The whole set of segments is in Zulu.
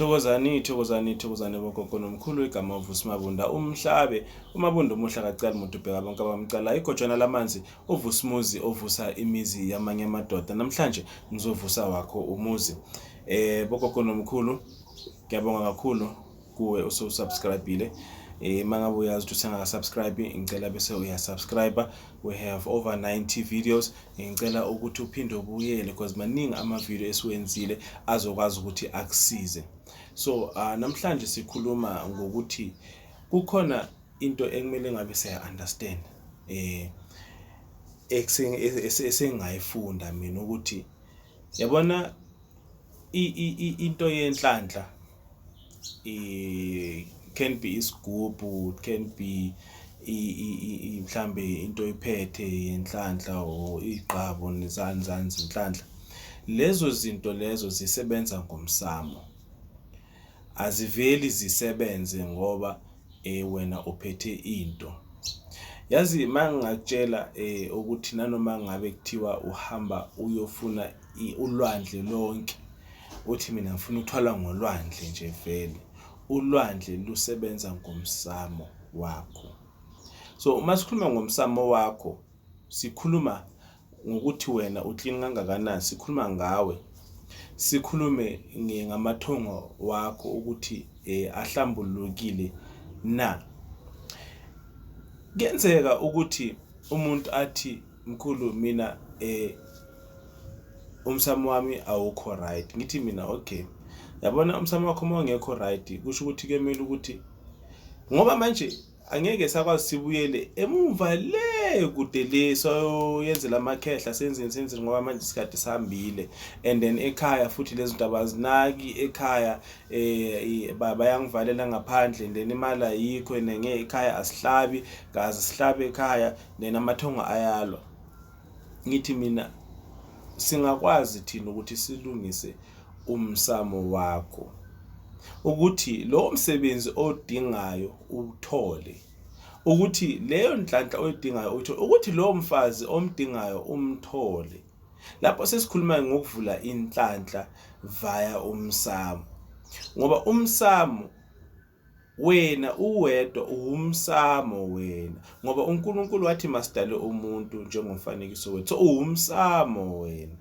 Thokozani thokozani thokozani bogogo nomkhulu igama uvusi mabunda umhlabe umabunda umuhle akacali muntu ubheka bonke abamcala igojana lamanzi uvusi muzi ovusa imizi yamanye amadoda namhlanje ngizovusa wakho umuzi eh bogogo nomkhulu ngiyabonga kakhulu kuwe usubscribile eh mangabe uyazi ukuthi usengaka subscribe ngicela bese uya subscribe we have over 90 videos ngicela ukuthi uphinde ubuyele because maningi amavidiyo esiwenzile azokwazi ukuthi akusize so uh, namhlanje sikhuluma ngokuthi kukhona into ekumele ngabe siya-understand eh esengayifunda mina ukuthi yabona into yenhlanhla i can be isigubhu it can be mhlambe into iphethe yenhlanhla or igqabo nezani zani zinhlanhla lezo zinto lezo zisebenza ngomsamo aziveli zisebenze ngoba eh wena uphethe into yazi mangingakutshela eh ukuthi nanoma ngabe kuthiwa uhamba uyofuna ulwandle lonke Uthi mina ngifuna ukuthwala ngolwandle nje vele. Ulwandle lusebenza ngomsamo wakho. So uma sikhuluma ngomsamo wakho sikhuluma ngokuthi wena uklini kangakanani, sikhuluma ngawe. Sikhulume ngamathongo wakho ukuthi eh, ahlambulukile na. Kuyenzeka ukuthi umuntu athi Mkhulu mina eh umsamo wami awukho right ngithi mina okay yabona umsamo wakho uma ungekho right kusho ukuthi kuyomele ukuthi ngoba manje angeke sakwazi sibuyele emumva le kude le soyenzela amakhehla senzeni senzeni ngoba manje isikhathi sihambile and then ekhaya futhi lezi zinto abazinaki ekhaya um bayangivalela ngaphandle and then imali ayikho nenge ekhaya asihlabi kazi sihlabe ekhaya Nena amathongo ayalwa. Ngithi mina singakwazi thina ukuthi silungise umsamo wakho ukuthi lowo msebenzi odingayo uthole ukuthi leyo nhlanhla oyidingayo uyithole ukuthi lowo mfazi omdingayo umthole lapho sesikhuluma ngokuvula inhlanhla via umsamo ngoba umsamo Wena uwedwa uwumsamo wena ngoba uNkulunkulu wathi masidale umuntu njengomfanekiso wethu. So uwumsamo wena.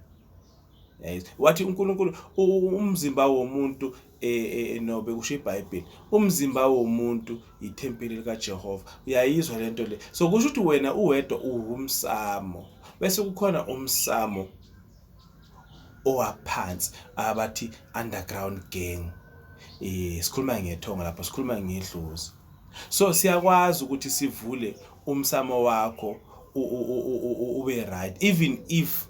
Yayizwa. Wathi uNkulunkulu u- u- umzimba womuntu eh, eh, no bekusho iBhayibheli. Umzimba womuntu yithempeli likaJehova. Uyayizwa lento le. So kusho ukuthi wena uwedwa uwumsamo. Bese kukhona umsamo owaphansi abathi underground gang eh sikhuluma ngethongo lapho sikhuluma ngedlozi so siyakwazi ukuthi sivule umsamo wakho ube right even if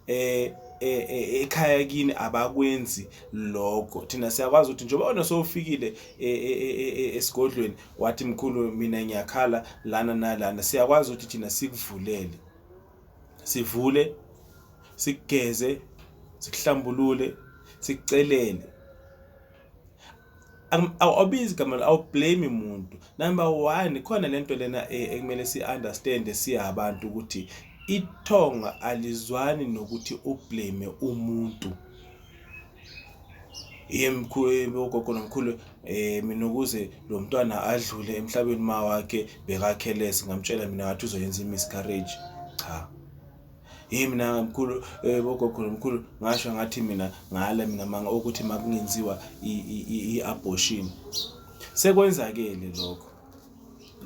eh, eh, eh ekhaya kini abakwenzi lokho thina siyakwazi ukuthi njengoba wena sowufikile eh, esigodlweni wathi mkhulu mina ngiyakhala lana nalana siyakwazi ukuthi thina sikuvulele sivule sikugeze sikuhlambulule sikucelele awubizi igama awublame umuntu number one khona lento lena e, ekumele si-understand siya abantu ukuthi ithonga alizwani nokuthi ublame umuntu yemkhulu ogogo nomkhulu eh mina ukuze lo mntwana adlule emhlabeni ma wakhe bekakhelesi ngamtshela mina ngathi uzoyenza i-miscarriage cha yimi mina mkhulu eh, bogogo nomkhulu ngasho ngathi mina ngale mina manga ukuthi makungenziwa i-abortion sekwenzakele lokho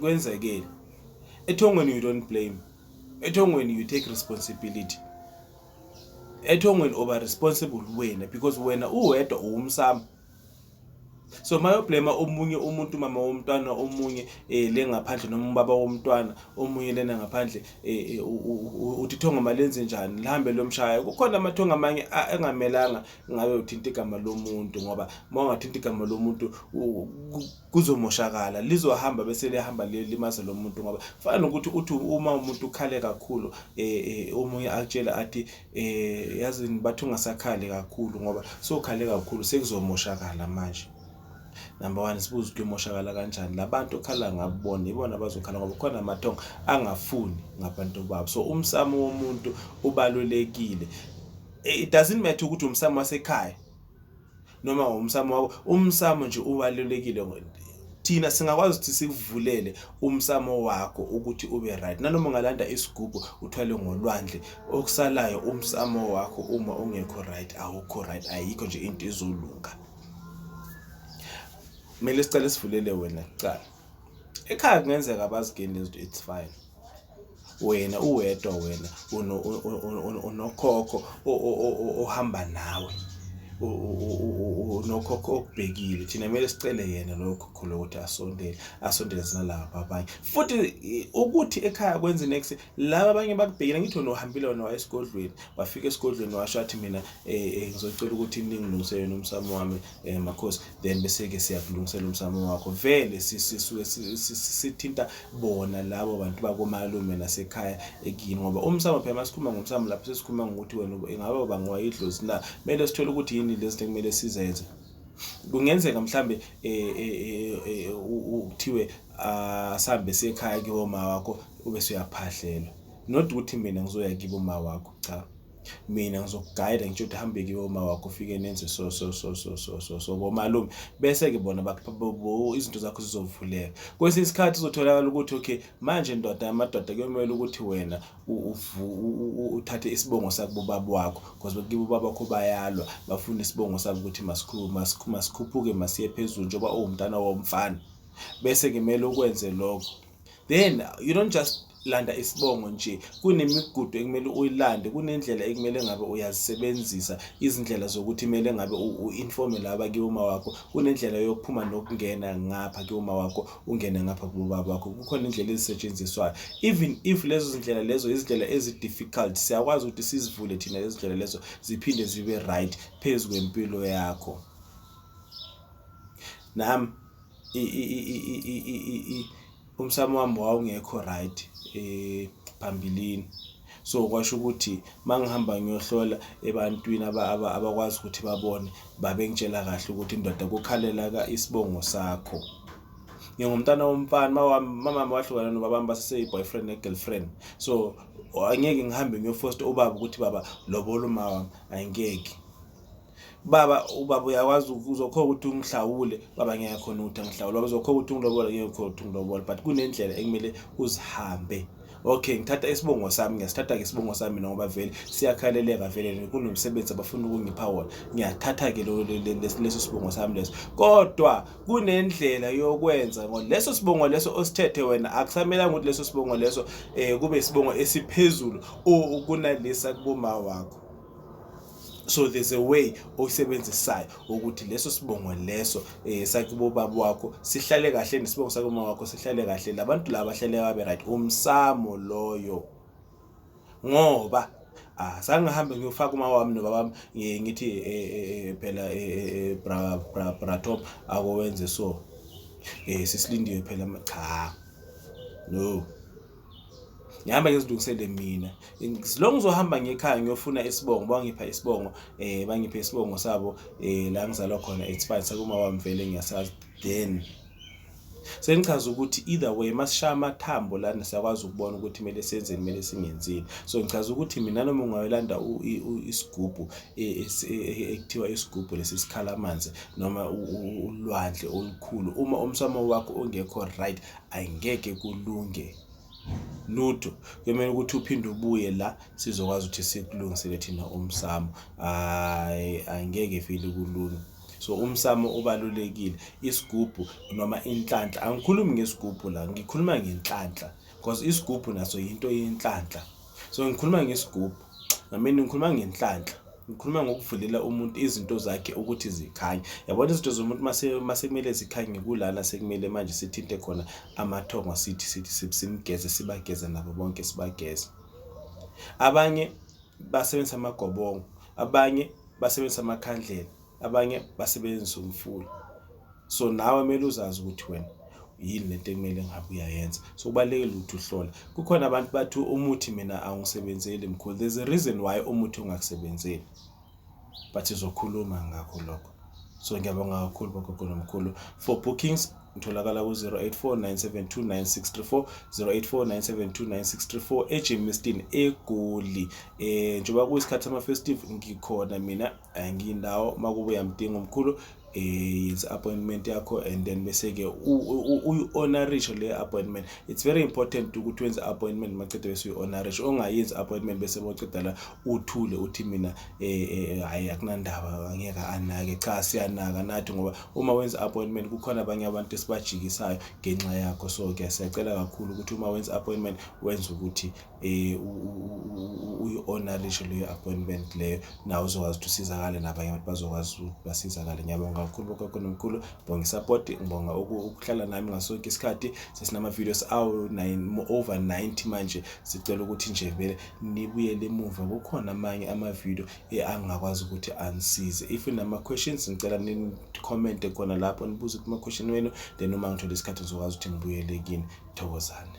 kwenzekele ethongweni you don't blame ethongweni you take responsibility ethongweni oba responsible wena because wena uwedwa uwumsamo so mayoblema omunye umuntu mama womntwana omunye eh le ngaphandle noma ubaba womntwana omunye lena ngaphandle eh, eh uthi ithongo malenze njani lihambe lomshaya kukhona amathongo amanye engamelanga ngabe uthinta igama lomuntu ngoba uma ungathinta igama lomuntu kuzomoshakala lizohamba bese liyahamba liyolimaza lo muntu ngoba kufana nokuthi uthi uma umuntu ukhale kakhulu um omunye akutshele athi um yazini bathi ungasakhali kakhulu ngoba sokhale kakhulu sekuzomoshakala manje number one sibuze ukuthi umoshakala kanjani la bantu okhala ngabona ibona abazokhala ngoba khona amathongo angafuni ngabantu babo so umsamo womuntu ubalulekile it doesn't matter ukuthi umsamo wasekhaya noma ngomsamo wakho umsamo nje ubalulekile thina singakwazi ukuthi sikuvulele umsamo wakho ukuthi ube right nanoma ungalanda isigubhu uthwale ngolwandle okusalayo umsamo wakho uma ungekho right awukho right ayikho nje into ezolunga kumele sicale sivulele wena kuqala ekhaya kungenzeka abazigeni lezinto it's fine wena uwedwa wena unokhokho ohamba nawe unokhokho okubhekile thina kumele sicele yena loyo khokho lowo ukuthi asondele asondele sinalaba abanye futhi ukuthi ekhaya kwenze next laba abanye bakubhekile ngithi wena uhambile wena waya esigodlweni wafika esigodlweni washo athi mina um ngizocela ukuthi ningilungisele nomsamo wami eh makhosi then bese ke siyakulungisela umsamo wakho vele sisuke sithinta bona labo bantu bakomalume nasekhaya ekini ngoba umsamo phela masikhuluma ngomsamo lapho sesikhuluma ngokuthi wena ingaba uba ngowayidlozi na kumele sithole ukuthi yini lezi zinto kumele sizenze kungenzeka mhlambe eh, eh, eh, kuthiwe asambe ah, sekhaya kibo ma wakho ube suyaphahlelwa not ukuthi mina ngizoya kibo ma wakho cha mina ngizokugayida ngitsho ukuthi hambe kiwe uma wakho ufike nenze so so so so so so so komalume bese-ke bona izinto zakho zizovuleka kwesinye isikhathi uzotholakala ukuthi okay manje ndoda amadoda kuyomele ukuthi wena uthathe isibongo sakubobaba wakho because bakibo ubaba wakho bayalwa bafuna isibongo sabo ukuthi masikhuphuke masiye phezulu njengoba uwumntana womfana bese-ke kumele ukwenze lokho then you don't just landa isibongo nje kunemigudu ekumele uyilande kunendlela ekumele ngabe uyazisebenzisa izindlela zokuthi kumele ngabe u-informe laba kiwuma wakho kunendlela yokuphuma nokungena ngapha kiwuma wakho ungene ngapha kubaba wakho kukhona indlela ezisetshenziswayo even if lezo zindlela lezo izindlela ezi-difficult siyakwazi ukuthi sizivule thina lezo zindlela lezo ziphinde zibe right phezu kwempilo yakho nami umsamo wami wawungekho right um phambilini. So kwasho ukuthi uma ngihamba ngiyohlola ebantwini abakwazi ukuthi babone, babengitshela kahle ukuthi ndoda kukhalela isibongo sakho. Ngingumntana womfana, umamami wahlukana nobabami baseseyi-boyfriend ne-girlfriend. So angeke ngihambe ngiyofosta ubaba ukuthi baba lobola umawami, angeke. baba ubaba uyakwazi uzokhona ukuthi ungihlawule baba ngeke khona ukuthi angihlawule baba uzokhona ukuthi ungilobola ngeke khona ukuthi ungilobola but kunendlela ekumele uzihambe okay ngithatha isibongo sami ngiyasithatha ke isibongo sami ngoba vele siyakhaleleka vele kunomsebenzi abafuna ukungipha wona ngiyathatha ke leso sibongo sami leso kodwa kunendlela yokwenza ngoba leso sibongo leso osithethe wena akusamelanga ukuthi leso sibongo leso eh kube isibongo esiphezulu kunalesa kuboma wakho so there's a way oyisebenzisayo ukuthi leso sibongo leso eh sakubo baba wakho sihlale kahle nesibongo sakuma wakho sihlale kahle labantu laba bahlale babe right umsamo loyo ngoba ah sangihambe ngiyofaka uma wami nobaba wami ngithi eh, eh, eh, phela bra bra bra top akowenze so eh sisilindiwe phela cha no ngihamba ngizilungisele mina lo ngizohamba ngekhaya ngiyofuna isibongo bangipha isibongo eh bangipha isibongo sabo eh la ngizalwa khona it's fine sekuma wami vele ngiyasazi then sengichaza ukuthi either way masishaya amathambo lana siyakwazi ukubona ukuthi kumele senzeni kumele singenzini so ngichaza ukuthi mina noma ungayolanda isigubhu e, e, e, ekuthiwa isigubhu lesi sikhala amanzi noma ulwandle olukhulu uma umsamo wakho ongekho right ayingeke kulunge lutho kuyomele ukuthi uphinde ubuye la sizokwazi ukuthi sikulungisele thina umsamo hayi angeke ifile kulunga so umsamo ubalulekile isigubhu noma inhlanhla angikhulumi ngesigubhu la ngikhuluma ngenhlanhla because isigubhu naso yinto yenhlanhla so ngikhuluma ngesigubhu ngamini ngikhuluma ngenhlanhla ngikhuluma ngokuvulela umuntu izinto zakhe ukuthi zikhanye yabona izinto zomuntu masekumele zikhanye kulana sekumele manje sithinte khona amathongo sithi sithi simgeze sibageze nabo bonke sibageze abanye basebenzisa amagobongo abanye basebenzisa amakhandlela abanye basebenzisa umfula so nawe kumele uzazi ukuthi wena yini lento ekumele ngabe uyayenza so kubalulekile ukuthi uhlola kukhona abantu bathi umuthi mina angisebenzeli mkhulu there's a reason why umuthi ungakusebenzeli but izokhuluma ngakho lokho so ngiyabonga kakhulu bogogo nomkhulu for bookings utholakala ku-08497296340 08497296340 ejimistin egoli um njengoba kuyisikhathi samafestive ngikhona mina anginawo uma kube uyamdinga umkhulu eh, yenza appointment yakho and then bese ke uyi-honorisho le appointment it's very important ukuthi wenze appointment maqede bese uyi-honorisho ongayenzi appointment bese boceda la uthule uthi mina eh, eh, hayi akunandaba angeke anake cha siyanaka nathi ngoba uma wenza appointment kukhona abanye abantu esibajikisayo ngenxa yakho so ke siyacela kakhulu ukuthi uma wenza appointment wenze ukuthi um uyi-owner lisho leyo appointment leyo nawe uzokwazi ukuthi usizakale nabanye abantu bazokwazi ukuthi basizakale ngiyabonga kakhulu bogogo nomkhulu ngibonga isapoti ngibonga ukuhlala nami ngaso sonke isikhathi sesinama-videos awu-over ninety manje sicela ukuthi nje vele nibuyele emuva kukhona amanye ama-video angingakwazi ukuthi anisize if nama-questions ngicela nikhomente khona lapho nibuze kuma-question wenu then uma ngithole isikhathi ngizokwazi ukuthi ngibuyele kini thokozane